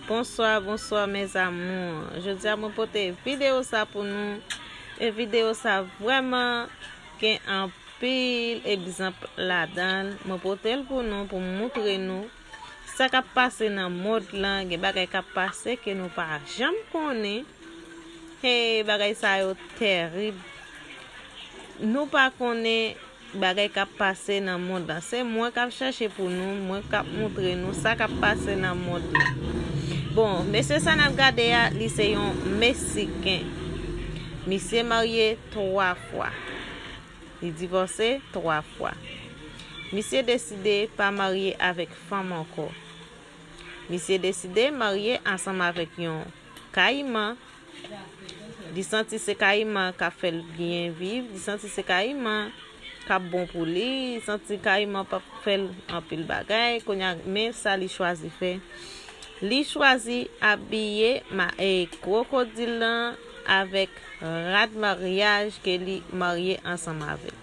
Bonswa bonswa mes amours Jodi a mwen pote video sa pou nou E video sa vreman gen anpil egzanp ladan Mwen pote l pou nou pou moutre nou Sa kap pase nan mod lan gen bagay kap pase ke nou pa janm konnen Hey bagay sa yo terib Nou pa konnen Bagay kap pase nan mond lan. Se mwen kap chache pou nou, mwen kap moutre nou sa kap pase nan mond lan. Bon, mesye sa nap gade a, li se yon Mesiken. Misye marye 3 fwa. Li divòse 3 fwa. Misye deside pa marye avèk fanm ankò. Misye deside marye ansanm avèk yon Kayiman. Li santi se kayiman kap fèl byen viv, li santi se kayiman kap bon pou li, li santi kayiman pap fèl anpil bagay, konya men sa li chwazi fè. Li chwazi abiye ma e krokodil lan avèk rad maryaj ke li marye ansanm avèl.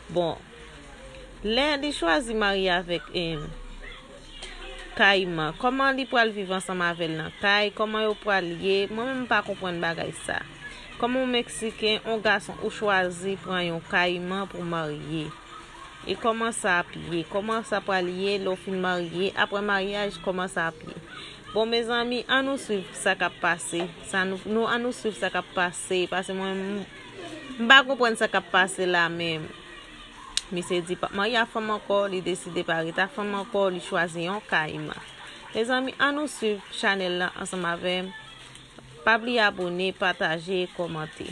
Bon, Lè li chwazi marye avèk Kayiman, kòman li pral viv ansanm avè l nan kay, kòman yo pral ye, mwen menm m pa konprann bagay sa. Kòm yon Meksiken, yon gason ou chwazi pran yon Kayiman pou marye. E kòman sa ap ye, kòman sa pral ye lè w fin marye, aprè maryaj kòman sa ap ye. Bon mezanmi, an nou swiv sa k ap pase, an nou swiv sa k ap pase, pase mwen menm. M pa konprann sa kap pase la men misye di pap marye ak fanm ankò li deside pa ret ak fanm ankò li chwazi yon kayiman mezanmi an nou swiv chanèl lan ansanm avèm pa bliye abone pataje kòmante.